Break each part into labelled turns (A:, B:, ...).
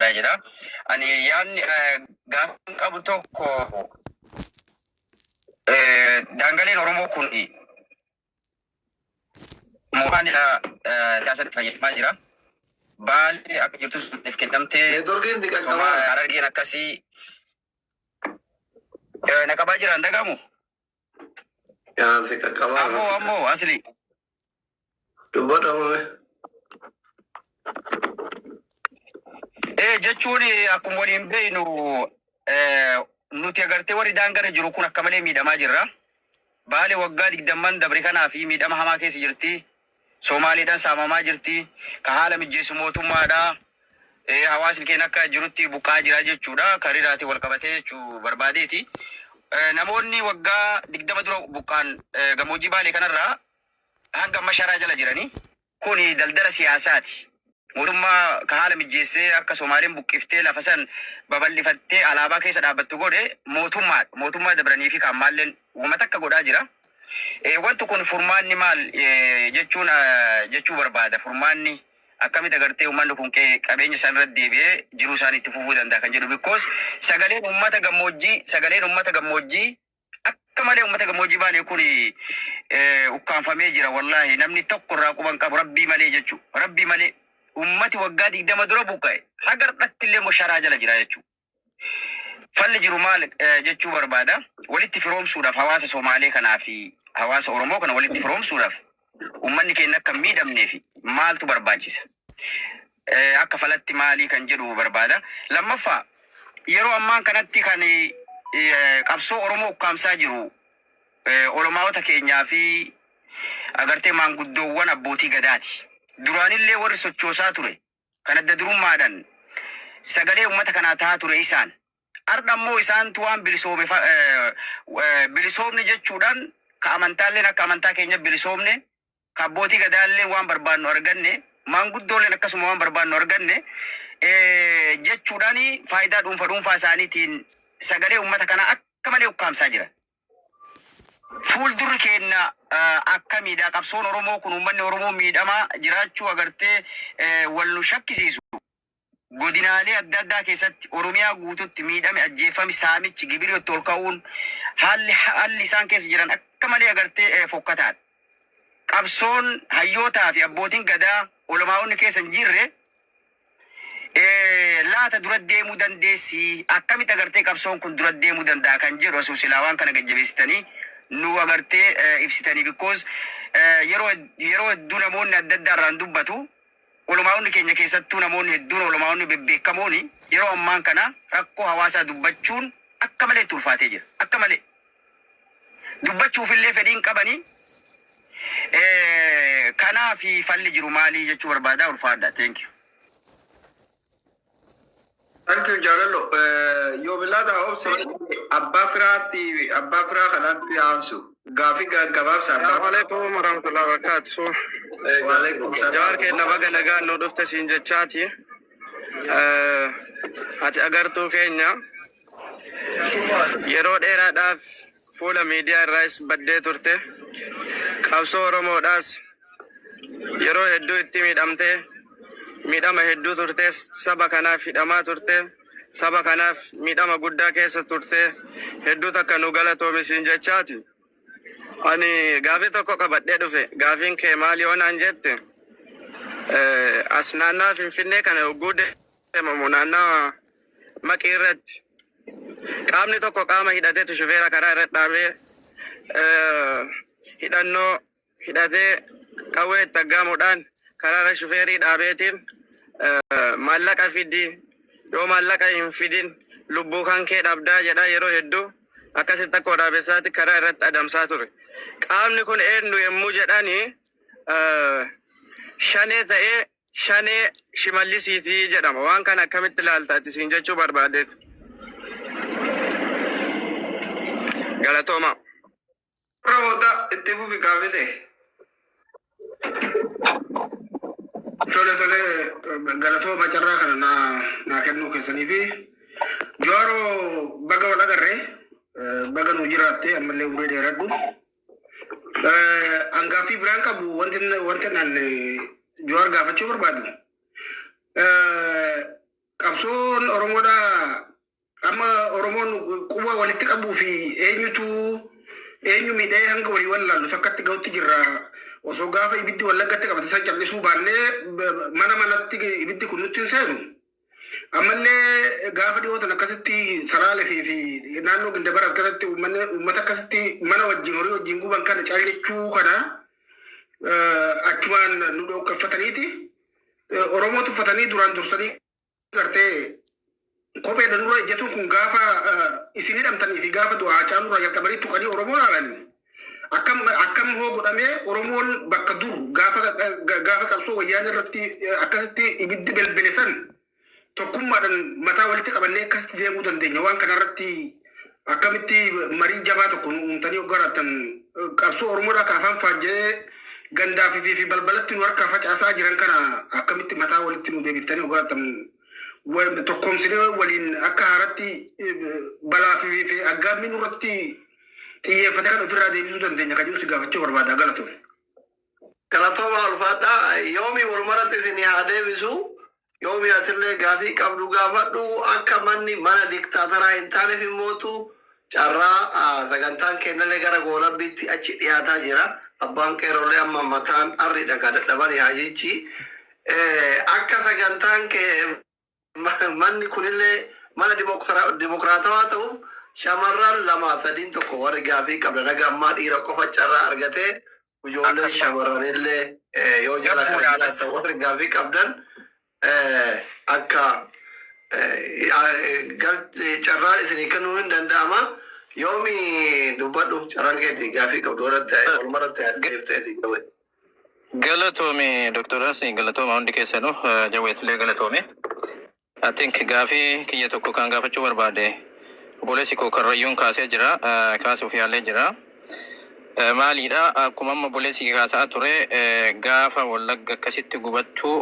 A: dha jedha. Ani yaadni eh, gaaffiin qabu tokko eh, daangaleen Oromoo kun mooraa dha eh, siyaasatti fayyadamaa jira. Baalli akka jirtus maaliif kennamtee Neetworkiin ni somaa qaqqabaa. harargeen akkasii eh, na qabaa jira hin dhagahamu. Yaa si qaqqabaa. Ammoo ammoo asli. Dubbadha
B: mame.
A: Ee jechuun akkuma waliin beeknu eh, nuti agartee warri daangarra jiru kun akka malee miidhamaa jirra. Baale waggaa digdamman dabre kanaa fi miidhama hamaa keessa jirti. Somaaleedhaan saamamaa jirti. Kan haala mijjeessu mootummaadha. Hawaasni keenya akka jirutti buqqa'aa jira jechuudha. Kan riraatiin wal qabatee jechuu barbaadeeti. Namoonni waggaa 20 dura buqqaan gammoojjii Baalee kanarraa hanga amma sharaa jala jiranii. Kuni daldala siyaasaati. Mootummaa ka haala mijjeessee akka Somaaleen buqqiftee lafa san babal'ifattee alaabaa keessa dhaabbattu godhe mootummaa dha. Mootummaa dabranii fi ka ammaalleen woma takka godhaa jira. Eh, Wanti kun furmaanni maal eh, jechuun ah, jechuu barbaada. Furmaanni akkamitti agartee uummanni kun qe- qabeenya isaan irra deebi'ee jiruu isaanii itti fufuu danda'a kan jedhu. Because sagaleen uummata gammoojjii, sagaleen uummata gammoojjii akka malee ummata gammoojjii baalee kun eh, ukkaanfamee jira wallaahi namni tokko irraa quban qabu rabbii malee jechuu rabbii malee ummati waggaa digdama dura buqqa'e haga dhatti illee sharaa jala jira jechuu falli jiru maal eh, jechuu barbaada walitti firoomsuudhaaf hawaasa somaalee kanaa fi hawaasa oromoo kana walitti firoomsuudhaaf uummanni keenya akka hin miidhamnee fi maaltu barbaachisa? Eh, Akka falatti maalii kan jedhu barbaada. Lammaffaa yeroo ammaan kanatti kan eh, qabsoo Oromoo ukkaamsaa jiru eh, olomaawota keenyaa fi agartee maanguddoowwan abbootii gadaati. Duraanillee warri sochoosaa ture kan adda durummaadhan sagalee ummata kanaa tahaa ture isaan. Ardha immoo isaantu waan bilisoome fa- eh, eh, bilisoomne jechuudhaan ka amantaalleen akka amantaa keenya bilisoomne ka abbootii gadaalleen waan barbaannu arganne maanguddoolleen akkasuma waan barbaannu arganne eh, jechuudhaan faayidaa dhuunfa dhuunfaa isaaniitiin sagalee ummata kanaa akka malee ukkaamsaa jiran. Fuuldurri keenna akkamiidha? Qabsoon Oromoo kun uummanni Oromoo miidhamaa jiraachuu agartee wal nu shakkisiisu. Godinaalee adda addaa keessatti Oromiyaa guututti miidhami, ajjeeffami, saamichi, gibiri itti ol ka'uun haalli haalli isaan keessa jiran akka malee agartee fokkataadha. Qabsoon hayyootaa fi abbootiin gadaa olamaa'onni keessa hin jirre laata dura deemuu dandeessii? Akkamitti agartee qabsoon kun dura deemuu danda'a kan jedhu osoo silaa waan kana gajjabeessitanii nu agartee ibsitanii because yeroo yeroo hedduu namoonni adda addaa irraan dubbatu olomaa'onni keenya keessattuu namoonni hedduun olomaa'onni bebbeekamooni yeroo ammaan kana rakkoo hawaasaa dubbachuun akka malee itti ulfaatee jira akka malee dubbachuuf illee fedhii hin qabanii Eh, kanaafi falli jiru maalii jechuu barbaada ulfaadha thank you
B: Thank you Jaalallo. Eh, Yoo bilaata obsi abbaa firaatti abbaa firaa kanaatti aansu gaafii ga- gabaabsa abbaa Assalamu alaikum
C: warahmatullahi wabarakatuh. Eh, Waalaikum salaam. Jawaar keenya baga nagaan nu dhufte siin jechaati. Eh, Ati agartuu keenya Yeroo dheeraadhaaf fuula miidiyaa irraas baddee turte. Qabsoo Oromoodhaas yeroo hedduu itti miidhamtee miidhama hedduu turtee saba kanaaf hidhamaa turte. Saba kanaaf miidhama guddaa keessa turte. Hedduu takka nu galatoomi siin jechaati. Ani gaafii tokko qabadhee dhufe. Gaafiin kee maali yoo naan jette eh, as naannaa Finfinnee kana hogguu de- Damamu naannawa Maqii irratti qaamni tokko qaama hidhatetu shufeera karaa irra dhaabee eh, hidhannoo hidhatee qawwee itti aggaamuudhaan karaa irra shufeerii dhaabeetiin eh, maallaqa fidi yoo maallaqa hin fidin lubbuu kan kee dhabdaa jedhaa yeroo hedduu akkasitti akka waraabessaatti karaa irratti adamsaa ture. Qaamni kun eenyu yommuu jedhani eh, shanee ta'ee Shanee Shimallisiiti jedhama. Waan kana akkamitti ilaalta ati siin jechuu barbaadeet. Galatoomaa.
B: Warra booda itti fufi gaaffii ta'e. Tole tole galatooma carraa kana naa naa kennuu keessanii fi Jawaaroo baga wal agarre eh, baga nuu jiraatte ammallee umurii dheeradhu. An gaaffii biraan qabu wanti wanti nan Jawaar gaafachuu barbaadu. Qabsoon Oromoodha amma Oromoon quba walitti qabuu fi eenyutu eenyu miidhee hanga walii wal ilaallu takkatti gahutti jirra. Osoo gaafa ibiddi wallaggatti qabate san callisuu baannee mana manatti ibiddi kun nutti hin seenu. Ammallee gaafa dhiyoo tana akkasitti Salaalefii fi naannoo Gindabarat kanatti uummanni uummata akkasitti mana wajjin horii wajjin guban kana caal jechuu kana eh, achumaan nu dhooqqeffataniiti eh, Oromoo tuffatanii duraan dursanii gartee kopheedha nurra ejjatuun kun gaafa eh, isin hidhamtanii fi gaafa du'aa caalurraa jalqabanii tuqanii Oromoo laalanii Akkam akkam hoo godhamee Oromoon bakka dur gaafa gaafa qabsoo wayyaanee irratti eh, akkasitti ibiddi belbele san tokkummaadhaan mataa walitti qabannee akkasitti deemuu dandeenya. Waan kana irratti akkamitti marii jabaa tokko nu uumtanii yoo garaatan eh, qabsoo Oromoodhaa ka afaan faajja'ee gandaa fi fi- fi balbalatti nu harkaa facaasaa jiran kana akkamitti mataa walitti nu deebiftanii yoo garaatan wal- tokkoomsinee waliin akka haaratti eh, balaa fi fi aggaammii nurratti xiyyeeffataan ofirraa deebisuu dandeenya kan jedhu si gaafachuu barbaada galatoom.
D: Galatooma ulfaadhaa yoomii walumaratti isin haa deebisu yoomii atillee gaafii qabdu gaafadhu akka manni mana diktaataraa hin taaneef immootu carraa ah, sagantaan kennallee gara goolabbiitti achi dhiyaataa jira abbaan qeerrollee amma mataan arridha ka dadhabani haajichi Eh, akka sagantaan kee Manni kunillee mana dimokiraatawaa ta'uuf shamarran lamaa sadiin tokko warri gaafii qabdan haga ammaa dhiira qofa carraa argatee ijoolleen shamarranillee yoo jala kana jiraatan warri gaafii qabdan akka carraan isinii kennuu hin danda'ama. Yoomi dubbadhu carraan keeti gaafii qabdu irratti walumarratti deebitee isin gabaadha. Galatoomi
E: Doktar Asi galatooma hundi keessanu jawweettillee galatoomi. I think gaafii kiyya tokko kan gaafachuu barbaade obboleessi koo karrayyuun kaasee jira eh, kaasuuf yaalee jira. Eh, Maaliidha akkuma amma obboleessi kee kaasaa ture eh, gaafa wallagga akkasitti gubattu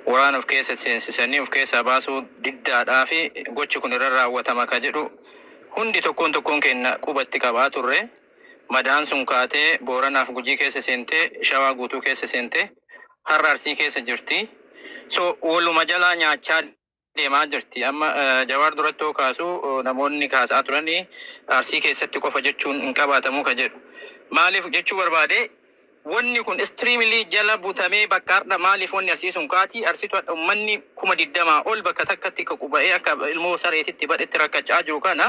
E: waraana of keessa seensisanii of keessaa baasuu diddaadhaa fi gochi kun irra raawwatama ka jedhu hundi tokkoon tokkoon keenya qubatti qabaa turre. Madaan sun kaatee Booranaa fi Gujii keessa seentee Shawaa guutuu keessa seentee har'a Arsii keessa jirti. So waluma jalaa nyaachaa deemaa jirti. Amma Jawaar duratti yoo kaasu namoonni kaasaa turanii Arsii keessatti qofa jechuun hin qabaatamu ka jedhu. Maaliif jechuu barbaade? Wonni kun extremely jala butamee bakka hardha maalif wonni arsii sun kaati arsitu hadha ummanni kuma digdama ol bakka takkatti ququba'ee akka ilmoo sareetitti badhetti rakkachaa jiru kana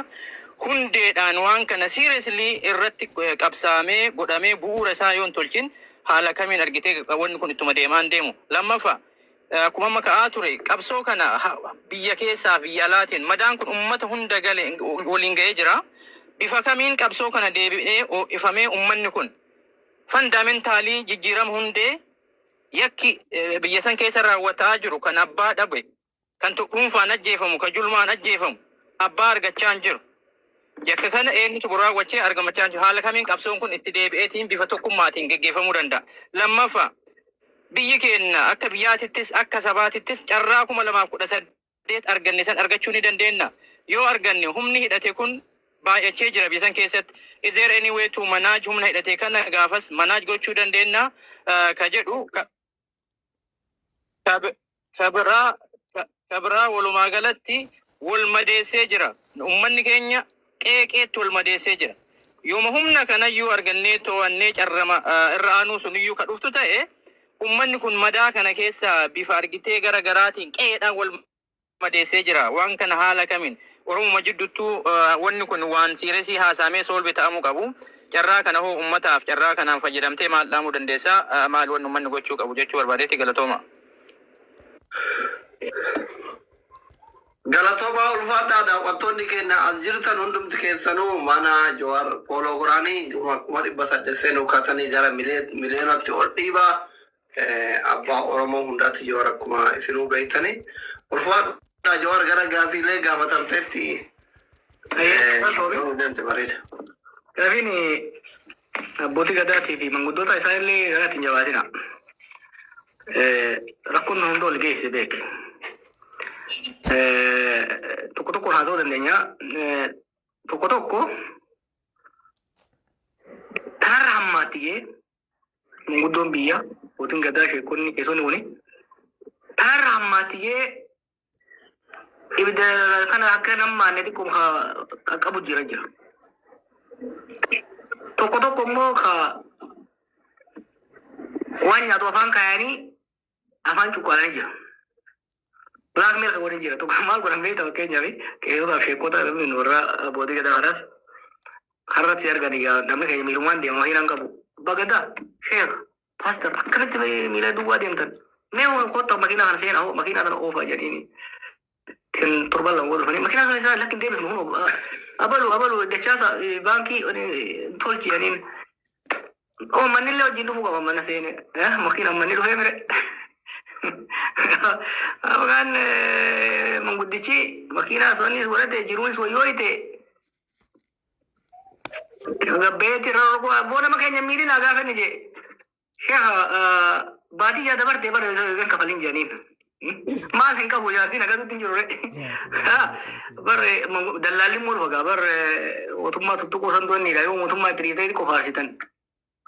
E: hundeedhaan waan kana seriously irratti qabsaamee godhamee bu'uura isaa yoo hin tolchin haala kamiin argitee wonni kun ittuma deemaa hin deemu lammaffa akkuma amma ka'aa ture qabsoo kana biyya keessaa biyya alaatiin madaan kun ummata hunda gale waliin ga'ee jira bifa kamiin qabsoo kana deebi'ee oo'ifamee ummanni kun Fandamentaalii jijjiirama hundee yakki biyya san keessa raawwata'aa jiru kan abbaa dhabe, kan dhuunfaan ajjeefamu, kan julmaan ajjeefamu abbaa argachaa hin jiru. Yakka kana eenyutu kun raawwachee argamachaa hin jiru. Haala kamiin qabsoon kun itti deebi'eetiin bifa tokkummaatiin geggeeffamuu danda'a. Lammaffaa biyyi keenna akka biyyaatittis akka sabaatittis carraa kuma lamaaf kudha saddeet Mandate arganne san argachuu ni dandeenna? Yoo arganne humni hidhate kun baay'achee jira biyya san keessatti. Is there any way to manage humna hidhate kana gaafas manage gochuu dandeenna ka jedhu ka ka bi- ka biraa ka- ka biraa walumaa galatti wal madeessee jira. Uummanni keenya qeeqeetti wal madeessee jira. Yooma humna kanayyuu argannee too'annee carrama irra aanuu suniyyuu ka dhuftu ta'e ummanni kun madaa kana keessaa bifa argitee gara garaatiin qe'eedhaan wal madeessee jira. Waan kana haala kamiin Oromuma jidduttuu wanni kun waan siiresii haasaamee soolvi ta'amuu qabu. Carraa kana hoo ummataaf carraa kanaan fayyadamtee maal dhaamuu dandeessa? Maal wanni ummanni gochuu qabu jechuu barbaadeeti galatoomaa.
D: Galatomaa ulfaadhaa daawwattoonni keenya as jirtan hundumti keessanuu mana Jowar follow godhaani dhuma kuma dhibba saddeet seenuu kaatanii gara milee- miliyoonatti ol dhiiba Eh, abbaa Oromoo hundaatti Jowar akkuma isinuu beektani ulfaadhaa Jowar gara gaafiilee gaafatamteetti eh, yoo nu deemte
B: bareeda. Gaafiin abbootii gadaatii fi manguddoota isaa illee gara ittiin jabaatina. Eh, rakkoon nu hunda ol geesse beek. Eh, tokko tokko haasa'uu dandeenya. Eh, tokko tokko kanarra hammaatti jee manguddoon biyya mootiin gadaa sheekonni keessoonni kuni kanarra hammaatti jee Ibidda kana akka hin hammaanne xiqqoo ka qaqqabu jira jira. Tokko tokko immoo ka waan nyaatu afaan kaayanii afaan cuqqaalanii jira. Black milk waliin jira. Tokko maal godhan beektaa fakkeenyaaf qeerotaaf sheekota yookiin warra abbootii gadaa kanaas karratti argan egaa namni keenya miilumaan deema hin qabu. Bagadaa sheeka Pastor akkamitti mee miila duwwaa deemtan? Mee ol kottaa makiinaa kana seenaa hoo makiinaa kana oofaa jedhanii ittiin torban lama wal dhufanii makiinaa kana isaa lakki hin deebifnu hunoo ah, abalu abalu dachaasa eh, baankii eh, tolchi jedhaniin oo manni illee wajjin dhufuu qaba mana seene eh, makiinaan manni dhufee mire. Afgaan eh, manguddichi makiinaa sonis godhate jiruunis wayyooyte Gabbeetti irra ol bu'aa boo nama keenya miidhin haa gaafanne jee. Sheekha baadiyyaa dabartee bara kan kafalin jedhaniin. Maas hin qabu jaarsiin akkasitti hin jiru ree. Barre dallaalli immoo dhufa gaa barre mootummaa tuttuquu santoonniidha yoo mootummaa itti dhiiftee qofaarsitan.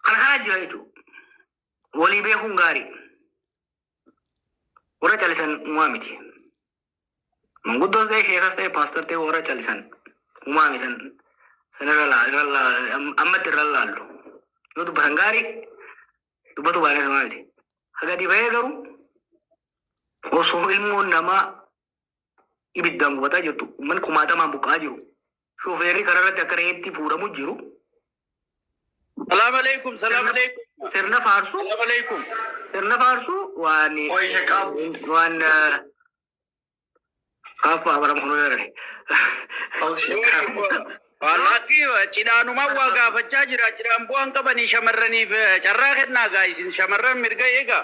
B: Kana kanaa jira jechuudha. Walii beekuun gaarii. Warra calisan uumaa miti. Manguddoon ta'e sheekas ta'e paastar ta'e warra callisan humaa misan san irra laa- irra laa- am- ammatti irra laallu. Yoo dubbatan gaarii dubbatu baanee samaa miti. Hagadi bahee garuu osoo ilmoon namaa ibiddaan gubataa jirtu uummanni kumaatamaan buqqa'aa jiru shufeerri karaarratti akka re'eetti fuudhamu jiru. Salaam
A: alaikum, salaam Sirna-
B: alaikum,
A: Sirna
B: faarsuu salaam alaikum. sirna faarsuu waan Qoyi shaqaab.
D: waan kaaffa abaram kunoo
A: jedhani. Wallaatti cidhaanumaan waa gaafachaa jira. Cidhaan bu'aan qabanii shamarraniif eh, carraa kennaa gaa isin shamarran mirga eegaa.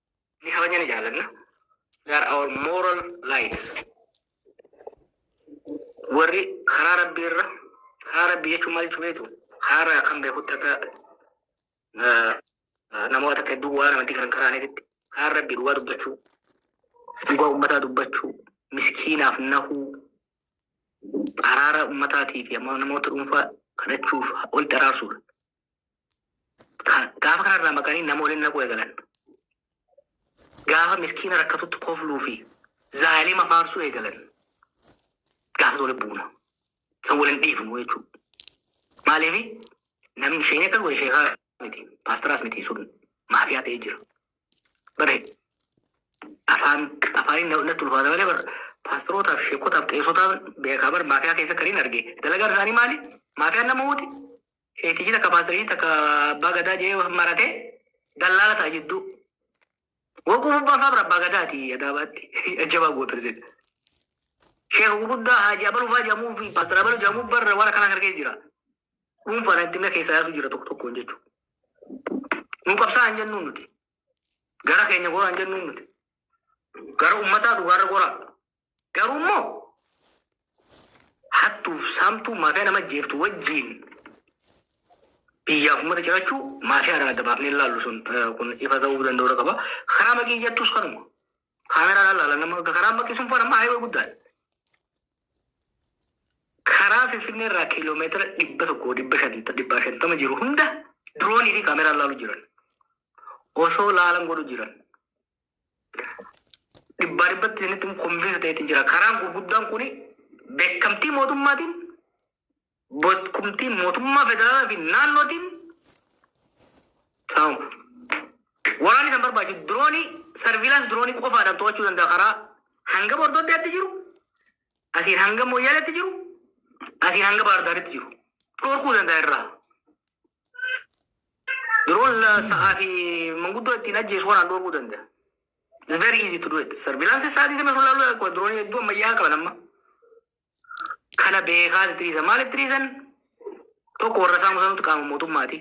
B: ni kabajna ni jaalanna they are our moral lights warri karaa rabbii irra karaa rabbii jechuun maal jechuu beektu karaa irraa kan beekutti akka eh, eh, namoota akka hedduu waan amantii kan karaaniititti karaa rabbii dhugaa dubbachuu dhugaa ummataa dubbachuu miskiinaaf nahuu araara ummataatii fi amma namoota dhuunfaa kadhachuuf walitti araarsuudha. Kan- Gaafa kanarraa maqanii nama waliin naquu eegalan. Gaafa miskiina rakkatutti kofluu fi zaalima faarsuu eegalan. Gaafa waliin buuna. San waliin dhiifnu jechuudha. Maaliif namni isheen akkas wal sheekaa miti. Paastaraas miti sun maafiyaa ta'ee jira. Bare afaan afaaniin na- natti ulfaata malee bara paastarootaaf sheekotaaf qeessotaan beekaa bara maafiyaa keessa kan hin arge. Dalagaan isaanii maali? Maafiyaan nama uuti. Keetichi takka paastarichi takka abbaa gadaa jedhee marate dallaala ta'a jidduu. Waguu bubbaan fa'aa bira abbaa gadaati adaabaatti jabaa gootan isin. Sheeka guguddaa haaji abaluu fa'aa jedhamuu fi paastar abaluu jedhamuu barra waan akkanaa harkee jira. Dhuunfaan itti himna keessaa yaasuu jira tokko tokkoon jechuudha. Nu qabsaa hin jennuun nuti. Gara keenya goraa hin jennuun nuti. Gara uummataa dhugaarra goraa. Garuu immoo hattuuf saamtuu maafiyaa nama jeeftu wajjiin biyyaaf uummata cirachuu maafiyaadhaan adda baafnee ilaallu sun eh, kun ifa ta'uu danda'uudha qaba. Karaa maqii jettus kanuma. Kaameraadhaan ilaalan nama karaa maqii sun faana haayawee guddaadha. Karaa Finfinnee irraa kiiloomeetira dhibba tokko dhibba shanta dhibba shantama jiru hunda diroonii fi kaameraan ilaalu jiran. Osoo laalan godhu jiran. dhibbaa dhibbatti isinitti konvinsi ta'etti jira. Karaan gurguddaan kun beekamtii mootummaatiin, beekumtii mootummaa federaalaa fi naannootiin saamama. Waraanni san barbaachisu diroonii sarviilaansi diroonii qofaadhaan to'achuu danda'a karaa hanga Bordoddeetti jiru, asiin hanga Moyyaaleetti jiru, asiin hanga Baardaaritti jiru. Dhorkuu danda'a irraa. Yeroon la- sa'aa fi manguddoo ittiin ajjeesu kanaan dhoorguu danda'a. It's very easy to do it. Sarvilaansii sa'aa 24 laaluu danda'a. Diroonii hedduu ammayyaa qaban amma. Kana beekaa itti dhiisan. Maaliif itti dhiisan? Tokko warra isaa musanuutu qaama mootummaati.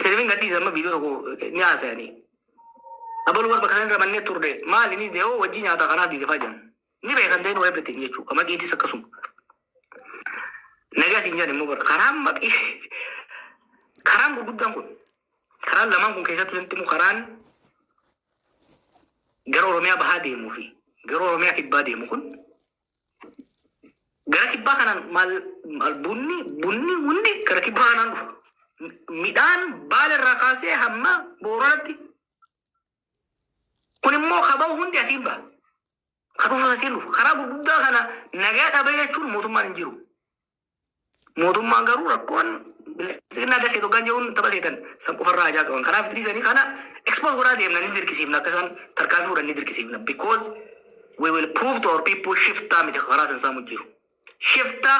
B: Sirbiin gadhiisa amma viidiyoo tokko ni haasa'anii. Abaluu warra bakka sana irra mannee turre. Maali ni dee'oo wajjii nyaata kanaaf diidefaa jiran. Ni beekan they know everything jechuu. Ka maqiitis akkasuma. Nagaa siin jedhan immoo bara karaan maqii karaan gurguddaan kun karaan lamaan kun keessattuu wanti immoo karaan gara Oromiyaa bahaa deemuu fi gara Oromiyaa kibbaa deemu kun gara kibbaa kanaan maal maal bunni bunni hundi gara kibbaa kanaan dhufa. Midhaan baala irraa kaasee hamma booranatti Kun immoo kaba'u hundi asiin ba'a. Kan dhufu asiin dhufu. Karaa gurguddaa kana nagaa dhabee jechuun mootummaan hin jiru. Mootummaan garuu rakkoon bilisinnaa dasee tokkaan jiruun tapha seetan san qofarraa ajaa qaban. Kanaaf itti dhiisanii kana expose godhaa deemna ni dirqisiifna akka isaan tarkaanfii fudhan ni dirqisiifna. Because we will prove to our people shiftaa miti karaa san saamu jiru. Shiftaa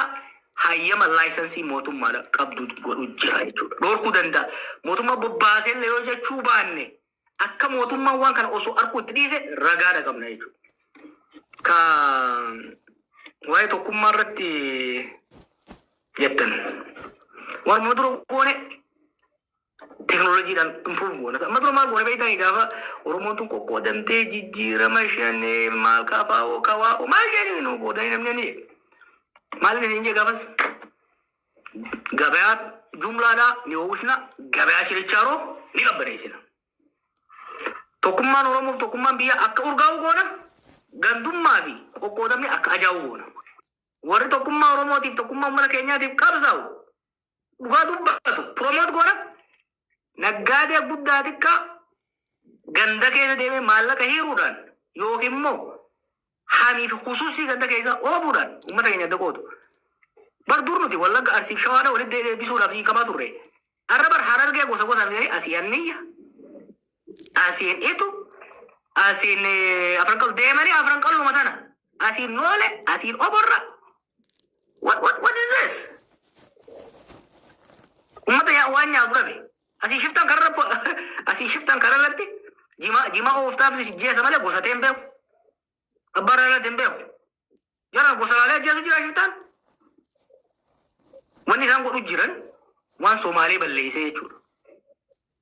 B: hayyama laayisansii mootummaadha qabdu godhu jira jechuudha. Dhorkuu danda'a. Mootummaa bobbaaseellee yoo jechuu baanne akka mootummaan waan kana osoo arkuu itti dhiise ragaadha qabna jechuudha. Ka waa'ee tokkummaa irratti jettan. Warma dura goone teknooloojiidhaan improve goona. Amma dura maal goone beektaa gaafa Oromoon tun qoqqoodamtee jijjiirama shanee maal kaafaa'oo kawaa'oo maal jedhanii nu goodanii namni ni maal isin jee gaafas gabayaa jumlaadhaa ni oomishna gabayaa chirichaaroo ni qabbaneessina. Tokkummaan Oromoof tokkummaan biyyaa akka urgaa'u goona gandummaa fi qoqqoodamni akka ajaa'u goona. Warri tokkummaa Oromootiif tokkummaa uummata keenyaatiif qabsaa'u dhugaa dubbatu promote godha naggaadee guddaa xiqqaa ganda keessa deemee maallaqa hiiruudhaan yookiin immoo hanii fi kusuusii ganda keessa oobuudhaan uummata keenya adda qoodu. Bar dur nuti wallagga arsiif shawaadha walitti deebisuudhaaf hin qabaa turre. Har'a bar harargee gosa gosa miti asii anniyya asiin itu asiin eh, afran qalu deemanii afran qaluma sana asiin noole asiin oborra What, what, what is this? Ummata yaa waan nyaatu dhabe. Asii shiftan kararra po- asii shiftan kararratti jima jima ooftaaf si jeesa malee gosa ta'e hin beeku. Abbaa irratti hin beeku. Jara gosa laalee ajjeesu jira shiftaan. Wanni isaan godhu jiran waan Somaalee balleessee jechuudha.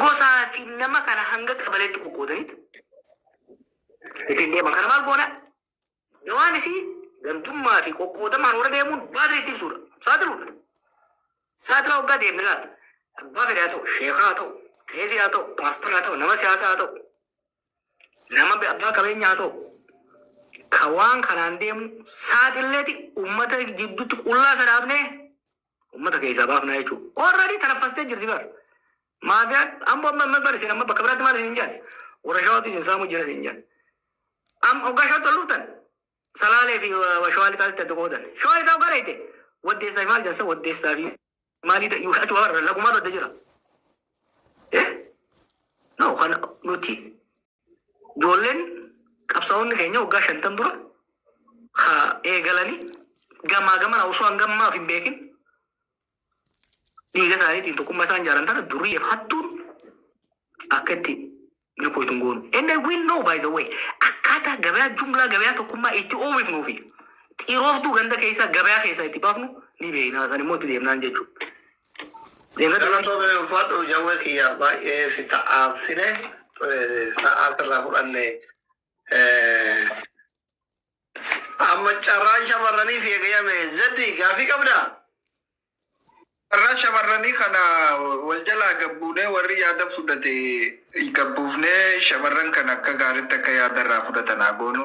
B: gosaa fi nama kana hanga qabaleetti qoqqoodaniit ittiin deeman. Kana maal goona? Dawaan isii gantummaa fi qoqqoodamaan warra deemuun baadri itti ibsuudha. Saaxiluudha. Saaxilaa waggaa deemne laata? Abbaa fedhaa ta'u, sheekaa haa ta'u, qeesii haa ta'u, paastaraa haa ta'u, nama siyaasaa haa ta'u, nama be- abbaa qabeenyaa haa ta'u, ka waan kanaan deemu saaxilleeti uummata jidduutti qullaa sadaabnee Ummata keessaa baafnaa jechuun already tanaffastee jirti bar. Maafiyaan ambo amma amma bar isin amma bakka biraatti maal isin jedhan? Warra shawaatu isin saamuu jira isin jedhan. Am oggaa shawatti ol dhuftan salaalee fi shawaa lixaatti adda goodan. Shawaa lixaa oggaa dhayte waddeessaa fi maal jedhan san waddeessaa fi maalii ta'e yookaan achi warra lagumaatu adda jira. Eh? No kan nuti Ijoolleen qabsaa'onni keenya waggaa shantan dura haa eegalanii gamaa gamana osoo hanga ammaaf hin beekin dhiiga isaaniitiin tokkummaa isaan ijaaran tana durii hattuun akka itti ni koytun goonu. And I will know by the way akkaataa gabayaa jumlaa gabayaa tokkummaa itti oomifnuu fi xirooftuu ganda keessaa gabayaa keessaa itti baafnu ni beekna. San immoo itti deemnaan jechuudha. Diina
D: galatoomi ulfaadhu jawwee kiyya baay'ee si ta'aabsine sa'aa sirraa fudhanne. Amma carraan shamarraniif eegayame zeddi gaafii qabda?
C: Carraa shamarranii kana wal jalaa gabbuunee warri yaada fudhate gabbuufnee shamarran kan akka gaariitti akka yaada irraa fudhatan haa goonu.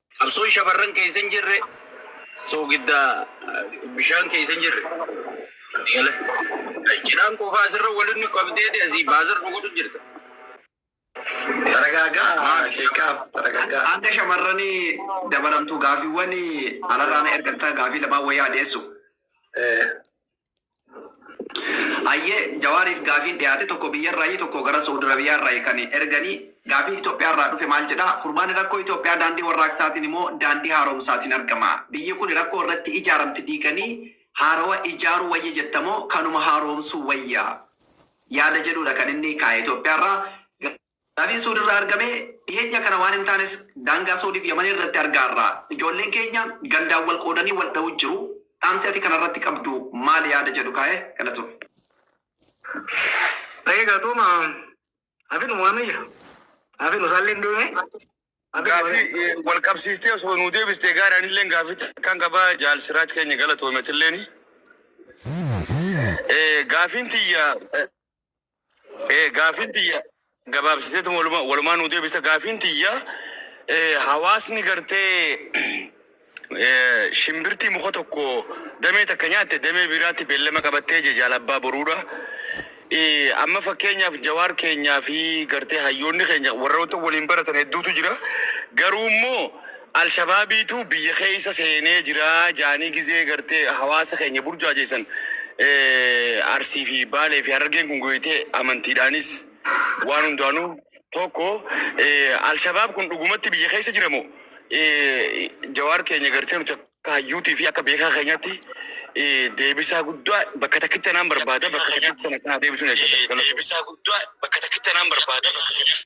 A: Qabsoon shamarran keessa hin jirre soogidda bishaan keessa hin jirre. Gala. Cidhaan qofaa asirra waliin nu qabdeeti asii baasar nu godhu jirta. Taragaagaa
D: sheekaaf taragaagaa. Hanga shamarranii
F: dabalamtuu gaafiiwwan alarraana ergattaa gaafii lamaan wayyaa dhiyeessu. Ayyee Jawaariif gaafiin dhiyaate tokko biyyarraayi tokko gara Sa'ud Arabiyaarraayi kan erganii gaafiin Itoophiyaarraa dhufe maal jedha furmaanni rakkoo Itoophiyaa daandii warraaqsaatiin moo daandii haaromsaatiin argama biyyi kuni rakkoo irratti ijaaramte diiganii haarawa ijaaruu wayya jetta moo kanuma haaroomsuu wayya yaada jedhuudha kan inni kaa'e Itoophiyaarraa Gaafiin Suud irraa argame dhiheenya kana waan hin taanes daangaa Suudiif Yaman irratti argaarra. Ijoolleen keenya gandaan wal qoodanii wal dha'uu jiru. Dhaamsi ati kana irratti qabdu maali yaada jedhu kaa'e galatoomi.
B: Baay'ee galatooma. Hafinu waamiyya. Hafinu isaallee hin deemee. Gaafii
C: wal qabsiistee osoo nuu deebistee gaara anillee gaafii takkaan qabaa jaal siraaj keenya galatoometilleen. Gaafiin tiyya Eh, Gaafiin tiyya gabaabsiteetu walumaa walumaa nuu deebisa. Gaafiin tiyya eh, hawaasni gartee eh, shimbirtii muka tokko damee takka nyaatte damee biraatti beellama qabattee je jaalabbaa boruudha. Eh, Amma fakkeenyaaf jawaar keenyaa fi gartee hayyoonni keenya warroota waliin baratan hedduutu jira. Garuu immoo Alshabaabiituu biyya keessa seenee jira jaanii gizee gartee hawaasa keenya burjaajeessan Arsii fi Baalee fi Harargeen kun gooyitee amantiidhaanis waan hundaanuu tokko Alshabaab kun dhugumatti biyya keessa jira moo Jawaar keenya gartee nuti akka hayyuutii fi akka beekaa keenyatti deebisaa guddaa bakka takkitti tanaan barbaada bakka takkitti tana kanaa deebisuun eeggata. Deebisaa guddaa bakka takkitti tanaan barbaada bakka takkitti.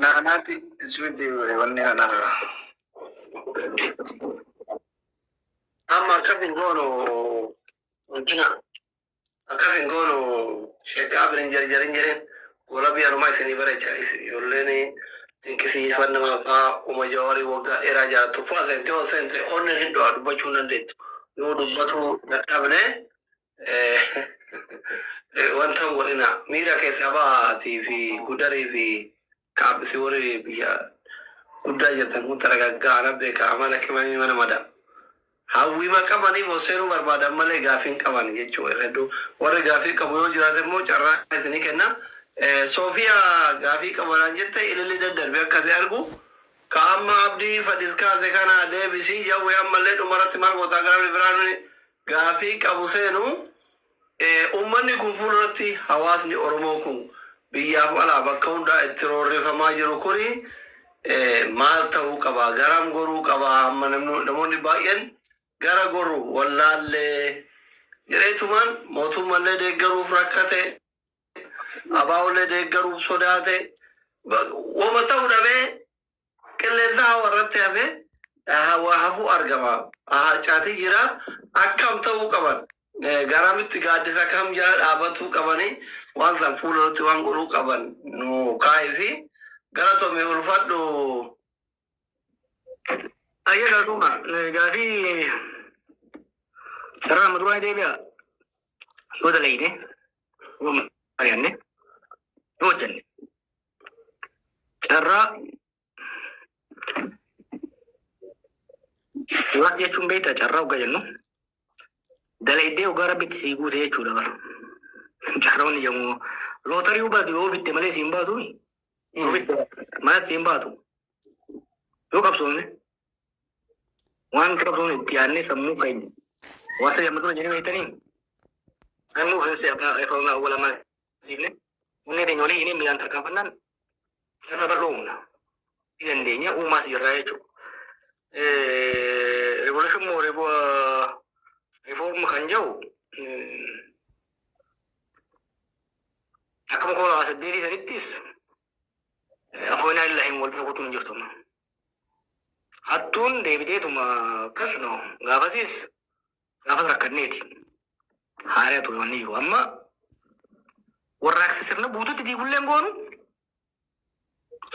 D: Naanaati ismiti wanni kana amma akkas hin goonu guddina akkas hin goonu sheekaa birin jarjarin jedheen gola biyyanumaa isinii bareechaniis ijoolleen dinqisiifan nama faa uma jawarii waggaa dheeraa jaattu faa seente ol seente onneen hin du'a dubbachuu hin dandeettu yoo dubbatu dadhabne wanta hin godhina miira keessaa bahaatii fi gudarii fi kaabbisi warri biyya guddaa jirtan kun taragaggaa ana beeka amala qimamii mana mada hawwiima qabaniif hosseenuu barbaadan malee gaafii hin qaban jechuu hedduu warri gaafii qabu yoo jiraate immoo carraa isinii kenna soofiya gaafii qabanaan jette ililli daddarbe akkasi argu ka amma abdii fadis kaase kana deebisii jawwe ammallee dhumarratti maal gootaa gara biraan Gaafiin qabu seenu ummanni kun fuulduratti hawaasni Oromoo kun biyyaaf alaa bakka hundaa itti roorrifamaa jiru kun maal ta'uu qaba? Garam goruu qaba? Amma namoonni baay'een gara gorru wallaalle jedheetumaan mootummallee deeggaruuf rakkate, ABOllee deeggaruuf sodaate, wama ta'u dhabee Qilleensa hawa irratti hafee hawa hafuu argama. Harcaatee jira. Akkam ta'uu qaban? Garamitti gaaddisa kam jala dhaabatuu qabanii waan san fuula irratti waan godhuu qaban nu kaa'ii fi galatomi ulfadhu.
B: Ayyee galatooma. Gaafii sarara amma duraa deebi'a. Yoo dalagne, yoo mari'anne, yoo hojjenne. Carraa Waan jechuun beektaa carraa ogaa jennu dalaydee ogaa rabbitti sii guute jechuudha bara. Carroon yommuu lootarii baatu yoo bitte malee siin baatu yoo bitte malee siin baatu yoo qabsoofne waan qabsoofne itti yaadnee sammuu keenya waan sadii amma dura jedhee beektanii sammuu keessa afaan awwalamaa Siifne onnee teenya olii hinee miilaan tarkaanfannaan irra bal'oo humna. Ni dandeenya uumaas jirraa jechuudha. Revolution moo reform kan jedhu akkuma koo lama saddeetii sanittis afoonaa illaa hin wal bira kutuun hin jirtu. Hattuun deebiteetuma akkas no gaafasiis Gaafas rakkanneeti. Haaree ture wanni jiru. Amma warraaqsi
G: sirna guututti diigulleen goonu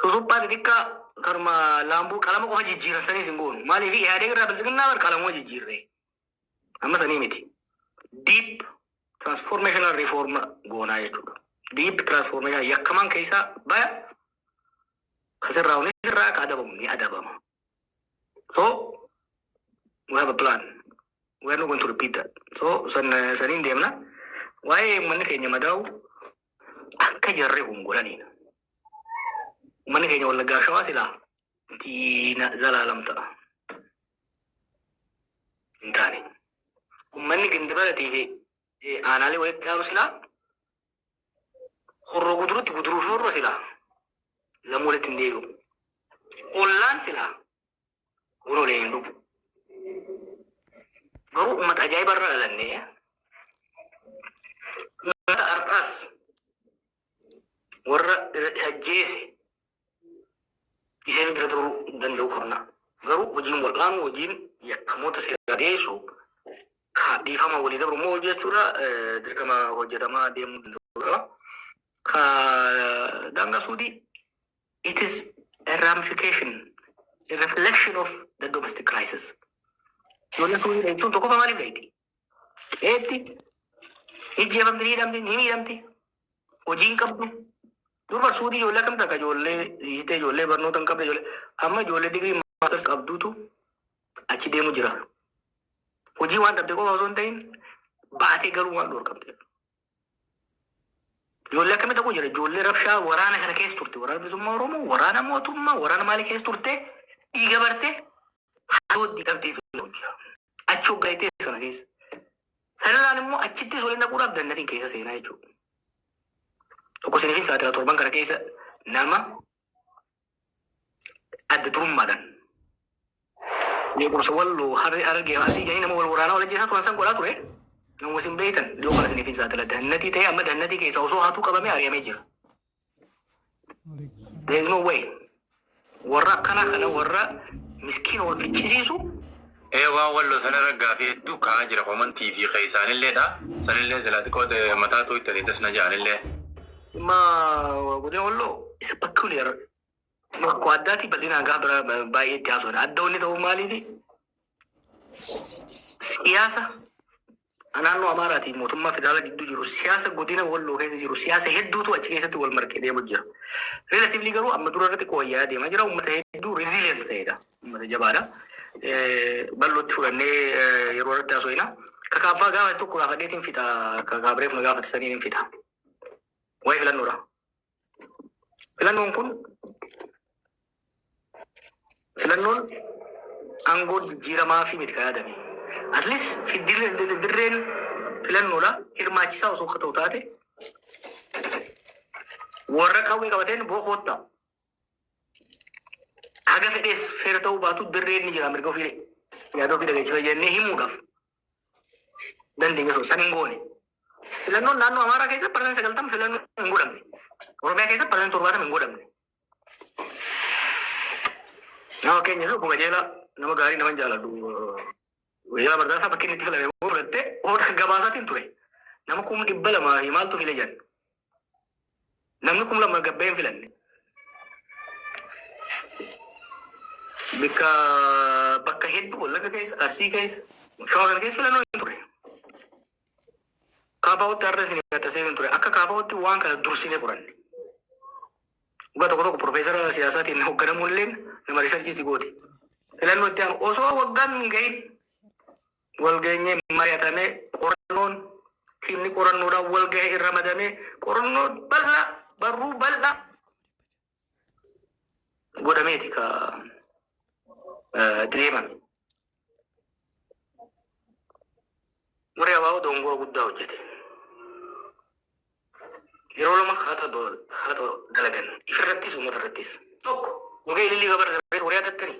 G: susuphaa xixiqqaa kanuma laambuu qalama qofa jijjiiran saniis hin goonu. Maaliif ihaadee irraa bilisiginnaa bar qalamuma jijjiirree. Amma sanii miti. Deep transformational reform goonaa jechuudha. Deep transformation yakkamaan keessaa baya kasirraa hunis irraa ka adabamu ni adabama. So we have a plan. We are not going to repeat that. So san saniin deemna. Waa'ee uummanni keenya madaa'u akka jarri kun godhaniidha. Uummanni keenya wallaggaa shawaa silaa diina zalaalam ta'a. Hin taane. Uummanni gindibaratii fi eh, aanaalee walitti dhaabu silaa Horroo gudurutti guduruu fi horroo silaa namuu walitti hin deebi'u. Ollaan silaa buna waliin hin dhugu. Garuu uummata ajaa'iba irra dhalannee uummata har'aas warra isa ajjeese iseen bira turuu danda'u qabna. Garuu hojiin wal'aanuu hojiin yakkamoota seeraa dhiyeessu ka dhiifama walii dabru immoo hojii jechuudha eh, dirqama hojjetamaa deemuu danda'u qaba. Ka daangaa suudii it is a ramification, a reflection of the domestic crisis. Ijoollee suudii dha jechuun tokkoffaa maaliif dha jechuudha? Qeetti ijjeefamti ni hidhamti ni miidhamti hojii hin qabdu. Durba suudii ijoollee akkamta akka ijoollee hiitee ijoollee barnoota hin qabne ijoollee amma ijoollee digirii maasters qabduutu achi deemu jira. Hojii waan dhabde qofa osoo hin ta'in baatee garuu waan dhorkamte. Ijoollee akkamitti dhaquu jira? Ijoollee rabshaa waraana kana keessa turte. Waraana bilisummaa Oromoo, waraana mootummaa, waraana maalii keessa turte? Dhiiga barte, haadhooddi dhabdee turte jira. Achi hoggaayitee sana keessa. Sanirraan immoo achittis waliin dhaquudhaaf dandatiin keessa seenaa jechuudha. Tokko isiniif saaxila torban kana keessa nama adda durummaadhaan beekumsa walloo harri argee arsii jedhanii nama wal waraanaa wal ajjeesaa turan san godhaa ture. Nama isin beektan dhiyoo kana isiniif hin saaxila. Dannatii ta'ee amma dannatii keessa osoo hatuu qabamee ari'amee jira. There is no way. Warra akkanaa kana warra miskiina wal ficcisiisu Ee waan
H: walloo san irra gaafii hedduu ka'aa jira comment fi keessaanillee dha. Sanillee silaa xiqqoo mataa tooytanii das na ja'anillee. Dhimma
G: godina walloo isa peculiar rakkoo addaatii bal'inaan gaafa biraa ba- baay'ee itti haasofna. Adda wanni ta'uu maaliifi siyaasa a Naannoo Amaaraa ti mootummaa federaalaa gidduu jiru siyaasa godina Walloo keessa jiru siyaasa hedduutu achi keessatti wal marqee deemu jira. Relatively garuu amma dura irra xiqqoo wayyaa'aa deemaa jira. Uummata hedduu resilient ta'edha. Uummata jabaadha. Bal'ootti fudhannee yeroo irratti haasofna. Ka kaaffaa gaafa tokko gaafadheetiin fixa. Ka kaabireef na gaafate saniin hin fixa. Waa'ee filannoodha. Filannoon kun filannoon aangoo jijjiiramaa fi miti kan yaadame. At least fi dirreen dirreen filannoodha hirmaachisaa osoo akka ta'u taate warra qawwee qabateen boo koottaa haga fedhees feera ta'uu baatu dirreen ni jira mirga ofii yaada ofii dhageessisa jennee himuudhaaf. dandeenye osoo san hin goone. Filannoon naannoo Amaaraa keessatti parsantii sagaltama filannoo hin godhamne. Oromiyaa keessatti parsantii torbaatama hin godhamne. Nama keenya fi obbo Qajeelaa nama gaarii nama jaalladhu. Guyyaa bardaasaa bakki inni itti filame immoo fudhattee hoodha gabaasaatiin ture. Nama kuma dhibba lamaa fi maaltu file jedhan. Namni kum lama gabbee hin filanne. Bakka bakka hedduu wallagga keessa arsii keessa shawaa kana keessa filannoo hin turre. Kaafaawutti har'a isin gaxasee hin ture. Akka kaafaawutti waan kana dursinee qoranne. Dhugaa tokko tokko profeesara siyaasaatiin hoogganamuun illee nama riisarchii si gooti. Filannoo itti aanu osoo waggaan hin gahin walgeenyee mari'atamee qorannoon tiimni qorannoodhaan walgahee irra madamee qorannoo bal'aa barruu bal'aa godhameeti ka deemame. Warri abaa'oo dongoo guddaa hojjete. Yeroo lama haata dalagan ifirrattis uummata irrattis tokko walgahii lillii gabarra warri hatattanii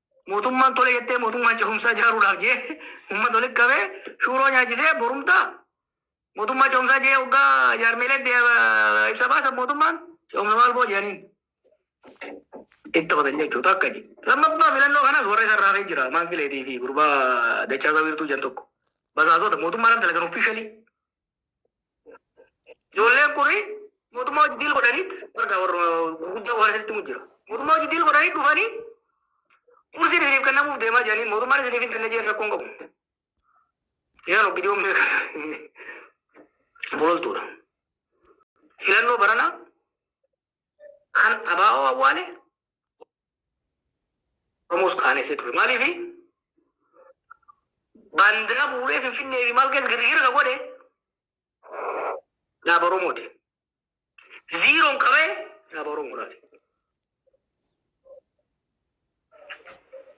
G: Mootummaan tole jettee mootummaan cehumsaa jaaruudhaaf jee uummata walitti qabee shuuroo nyaachisee borumtaa mootummaa cehumsaa jee hoggaa jaarmeelee ibsa baasan mootummaan cehumsa maal boo jedhaniin itti taphatan jechuudha akka jee. Lammaffaa filannoo kanas warra isa irraa jira maan fileetii fi gurbaa dachaa isaa wiirtuu jan tokko basaasota mootummaa irratti dalagan offiishalii Ijoolleen kun mootummaa hojii diil godhaniit warra warra gurguddaa waan isinitti himu jira. Mootummaa hojii diil godhaniit dhufanii kursiin isiniif kennamuuf deemaa jiranii mootummaan isiniif hin kenne jedhan rakkoon qabu. Isaan ogidiyoon beekan bololtuudha. Filannoo baranaa Kan abaa'oo awwaale Oromoos qaaneessee ture. Maaliif baandiraa fuudhee Finfinnee fi maal keessa girgiira ka godhe dhaaba Oromooti. Ziiroon qabee dhaaba Oromoodhaati.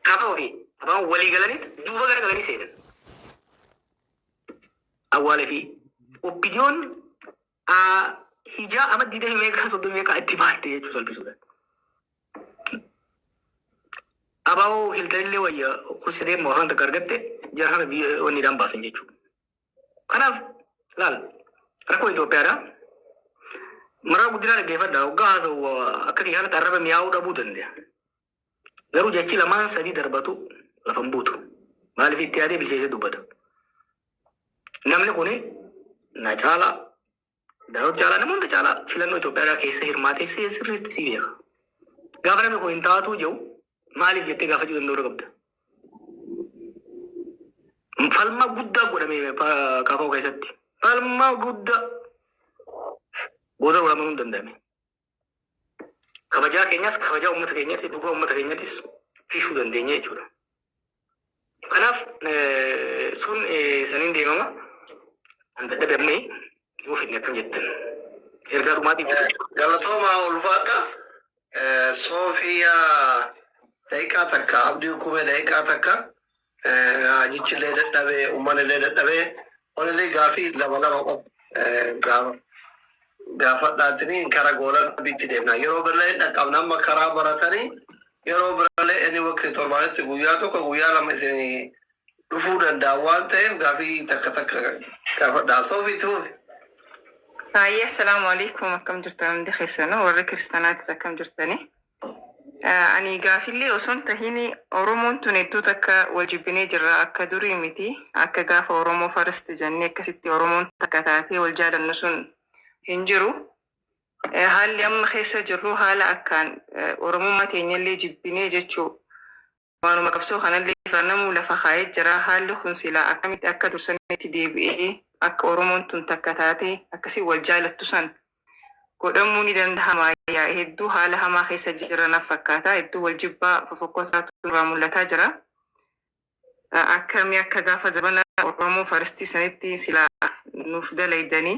G: Kafa ofii abaan walii galaniit duuba gara galanii seenan. Awwaalee fi oppidiyoon a Hijaa ama didee meeqaa soddon meeqaa itti baatte jechuu salphisuudhaan. Abaa'oo hiltanillee wayya kursi deemu afaan takka argatte jara kana biyya onniidhaan baasan jechuudha. Kanaaf laal rakkoo Itoophiyaadha. Maraa guddinaa dhaggeeffadha. Hoggaa haasa'u akka kiyyaanatti arraba mi'aawuu dhabuu danda'a. Garuu jechi lamaan sadii darbatu lafa hin buutu. Maaliif itti yaadee bilcheessee dubbata. Namni kun na caalaa Daawud caalaa nama hunda caalaa filannoo Itoophiyaa keessa hirmaatee si- sirriitti si beeka. Gaafa namni kun hin taatuu jedhu maaliif jettee gaafachuu danda'uu qabda. Falmaa guddaa godhame pa- kaafa'uu keessatti. Falmaa guddaa booda wal amanuu hin danda'ame. Kabajaa keenyas kabajaa uummata keenyatti, dhugaa uummata keenyattis dhiisuu dandeenya jechuudha. Kanaaf eh, sun eh, saniin deemama. Kan dadhabe amma yoo fidne akkam jettan. Ergaa dhumaatiin jira. Galatoomaa
D: ulfaadha. Eh, Soofiyaa daqiiqaa takka abdii hukumee daqiiqaa takka Raajichillee dadhabe, ummanillee dadhabe. Wanillee gaafii lama lama qofa gaafadhaatini kara goola rabbiitti deemna. Yeroo birallee hin dhaqqabna amma karaa baratanii yeroo birallee inni waqtii torbaanitti guyyaa tokko guyyaa lama isin dhufuu danda'a waan ta'eef gaafii takka takka gaafadhaa. Soofi itti fufi. Haayya,
I: assalaamu alaikum akkam jirtan hundi keessanuu warri kiristaanaatis akkam jirtanii? Ani gaafillee osoo hin tahin oromoon tun hedduu takka wal jibbinee jirra akka durii miti akka gaafa oromoo first jennee akkasitti oromoon takka taatee wal jaalannu sun hin jiru haalli amma keessa jirru haala akkaan oromummaa teenyallee jibbinee jechuu Waanuma qabsoo kanallee irraa namuu lafa kaa'ee jira. Haalli kun silaa akkamitti akka dur sanitti deebi'ee akka Oromoon tun takka taatee akkasiin wal jaalattu san godhamuu ni dandahamaa? Yaa hedduu haala hamaa keessa jirra naf fakkaata. Hedduu wal jibbaa fofokkotaatu nurraa mul'ataa jira. Akka mee akka gaafa zabana Oromoo farstii sanitti silaa nuuf dalaydanii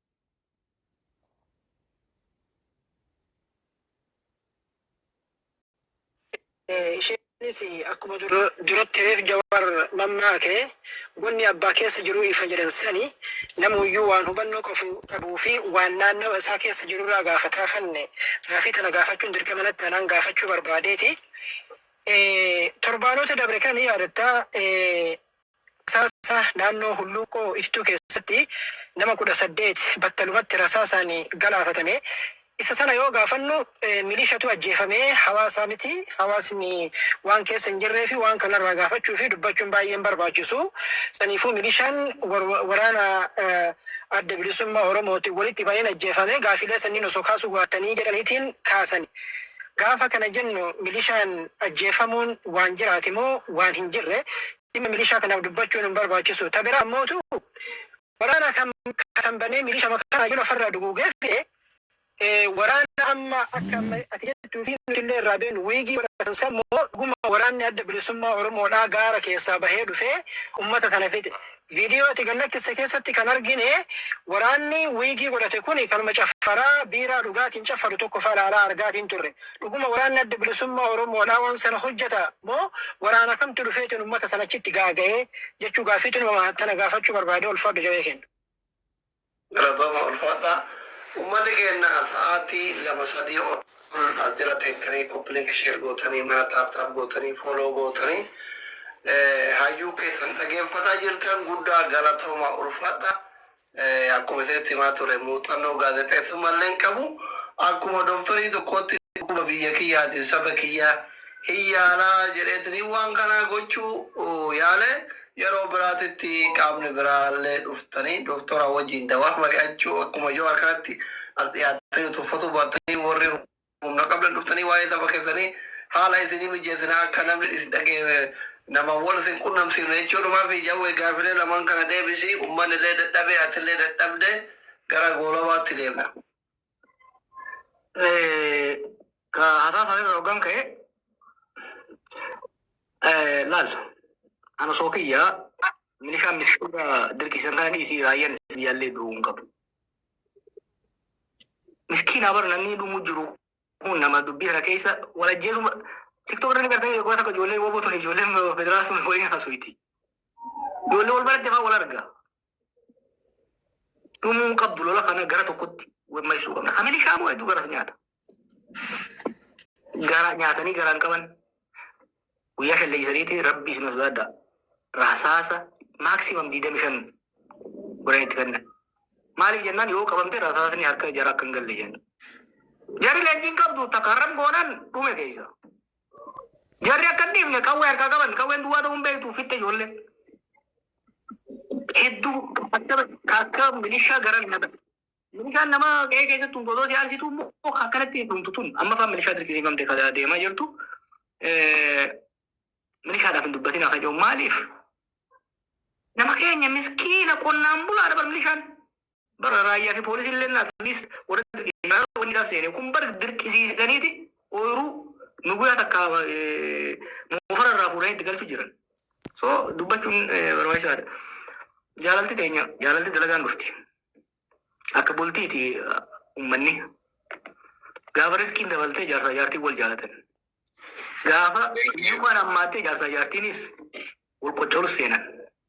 J: Isheenis akkuma duratti reef Jawaar mammaake gonni abbaa keessa jiruu ifa jedhan sani namuyyuu waan hubannoo qabu qabuu fi waan naannawa isaa keessa jirurraa gaafataa fanne gaafii tana gaafachuun dirqama natti anaan gaafachuu barbaadeeti. Torbaanota dabre kan ni yaadatta Rasaasa naannoo Hulluuqqoo Ittuu keessatti nama 18 battalumatti rasaasaan galaafatame. Isa sana yoo gaafannu milishatu ajjeefame, hawaasaa miti. Hawaasni waan keessa hin jirreefi waan kanarraa gaafachuufi dubbachuun baay'ee hin barbaachisu. Saniifuu milishaan waraana Adda Bilisummaa Oromootiin walitti baheen ajjeefame. Gaafiilee sanniin osoo kaasuu baattanii jedhaniitiin kaasan. Gaafa kana jennu milishaan ajjeefamuun waan jiraate moo waan hin jirre dhimma milishaa kanaaf dubbachuun hin barbaachisu. Ta biraa ammootu waraana kan kaasan banee milishama kana yoo lafarraa duguugee fixe waraana amma akka amma ati jettuu fi nuti illee irraa beenu wiigii godhatan san moo dhuguma waraanni adda bilisummaa Oromoodhaa gaara keessaa bahee dhufee ummata sana fixe. Viidiyoo ati gad lakkiste keessatti kan argine waraanni wiigii godhate kuni kanuma caffaraa biiraa dhugaatiin caffaru tokko fa'a ilaalaa argaatiin turre. Dhuguma waraanni Adda Bilisummaa Oromoo dha waan sana hojjeta moo waraana kamtu dhufeetiin ummata sana achitti gaaga'e jechuu gaaffiitu nu mama tana gaafachuu barbaade ulfaadhu jawee keenya.
D: Galatooma ulfaadha. Ummanni keenna sa'aatii lama sadii ol as jala teettanii copy link share gootanii mana tap tap gootanii follow gootanii hayyuu keessan dhageeffataa jirtan guddaa galatoomaa ulfaadha. Akkuma isinitti himaa ture muuxannoo gaazexeessummaa illee hin qabu. Akkuma dooktarii tokkootti dhukkuba biyya kiyyaatiif saba kiyyaa hin yaalaa jedheetanii waan kanaa gochuu yaale Yeroo biraatitti qaamni biraallee dhuftanii doktora wajjiin dawaaf mari'achuu akkuma Jawaar kanatti as dhiyaattanii tuffatuu baattanii warri humna qabdan dhuftanii waa'ee saba keessanii haala isinii mijeessinaa akka namni isin dhaga'e nama wal isin qunnamsiifna jechuudhumaa fi Jawwee gaafilee lamaan kana deebisii ummanni illee dadhabee atillee dadhabde gara goolabaatti deemna.
G: Ka haasaa isaa irra hoggan ka'e laal ana osoo kiyyaa milishaan miskiina dirqisan kana dhiisii raayyaan isin yaallee du'uu hin qabu. Miskiina bara namni dhumuu jiru kun nama dubbii kana keessa wal ajjeesu tiktok irra ni gartee yeroo tokko ijoollee waboo tun ijoollee federaalaa tun waliin haasuuti. Ijoollee wal baratte fa'aa wal arga. Dhumuu hin qabdu lola kana gara tokkotti wammaisuu qabna. Ka milishaa moo hedduu garas nyaata. Gara nyaatanii garaan qaban guyyaa shan leegisaniiti rabbii isin sodaadha. Rasaasa maaksiimam digdami shan godhan itti kennan. Maaliif jennaan yoo qabamte rasaasni harka jara akka hin galle jenna. Jarri leenjii hin qabdu takka har'an goonan dhume keessa. Jarri akka hin dhiifne qawwee harkaa qaban qawween duwwaa ta'uu hin beektu fitte ijoolleen. Hedduu akka akka milishaa gara nama. Milishaan nama qe'ee keessatti tumtu osoo si aarsitu immoo akkanatti hin dhumtu tun amma fa'aa milishaa dirqisiifamte kan deemaa jirtu. Eh, Milishaadhaaf hin dubbatin akka jiru maaliif? Nama keenya miskiina qonnaan bulaadha bar milishaan. Bara raayyaa fi poolisii illee naas liist warra dirqisiisaa wanni dhaaf seene kun bar dirqisiisaniiti ooyiruu nuguyaa takka eh, moofara irraa fuudhanii itti galchu jiran. So dubbachuun eh, barbaachisaadha. Jaalalti teenya jaalalti dalagaan dhufti. Akka bultiiti eh, ummanni. Gaafa riskiin dabaltee jaarsaa jaartiin wal jaalatan. Gaafa hiyyummaan hammaattee jaarsaa jaartiinis wal qoccoluuf seenan.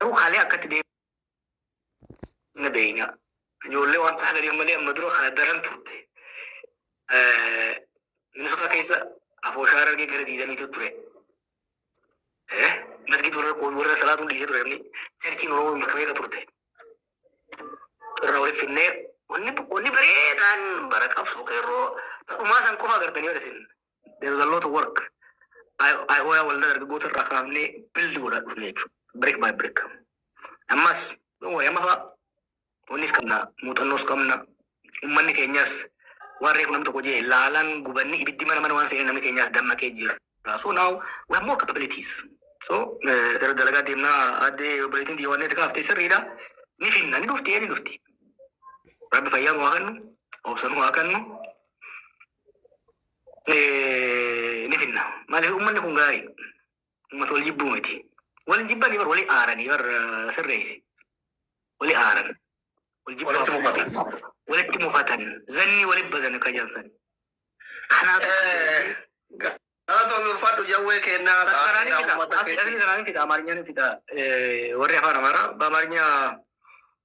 G: Garuu kalee akkatti deemna beeyna. Ijoollee waan taataniif malee amma dura kana daran turte. Minisota keessa afooshaa argee gara diidamiitu ture. Masgid warra warra salaatuun dhiisee ture namni jarchiin Oromoo bakka meeqa turte. Irraa walitti finnee wanni wanni bareedaan bara qabsoo qeerroo dhumaa san qofa agartanii yoo isin There is a lot of work. IOA waldaa dargaggoota irraa kaafnee build godhaa dhufne jechuudha. Brick by brick. Ammas yoo wayii amma fa'aa wannis qabna muuxannoos qabna uummanni keenyas waan reefu namni tokko jee laalaan gubanni ibiddi mana mana waan seenee namni keenyas dammaqee jira. So now we have more capabilities. So eh, gara dalagaa deemnaa addee obboleettiin xiyya waan kaaftee sirriidha. Ni finna ni dhufti ee ni dhufti. Rabbi fayyaa nu haa kennu. Obsa nu haa kennu. eh, ni finna. Maaliif uummanni kun gaarii uummata wal jibbuu miti. Wal hin jibbanii bar walii aaranii bar eh, sirreessi. Walii aaran. Wal jibbaa Walitti mufatan. walitti mufatan. Zanni walitti badan akka jaansan. Kanaaf Eh,
D: Galatoomii ulfaadhu jawwee kennaa Karaan gaariidha fida. uummata Asii asii keetii. karaan fida.
G: Amaarinyaan fida. Eh, Warri afaan amaaraa baamarnyaa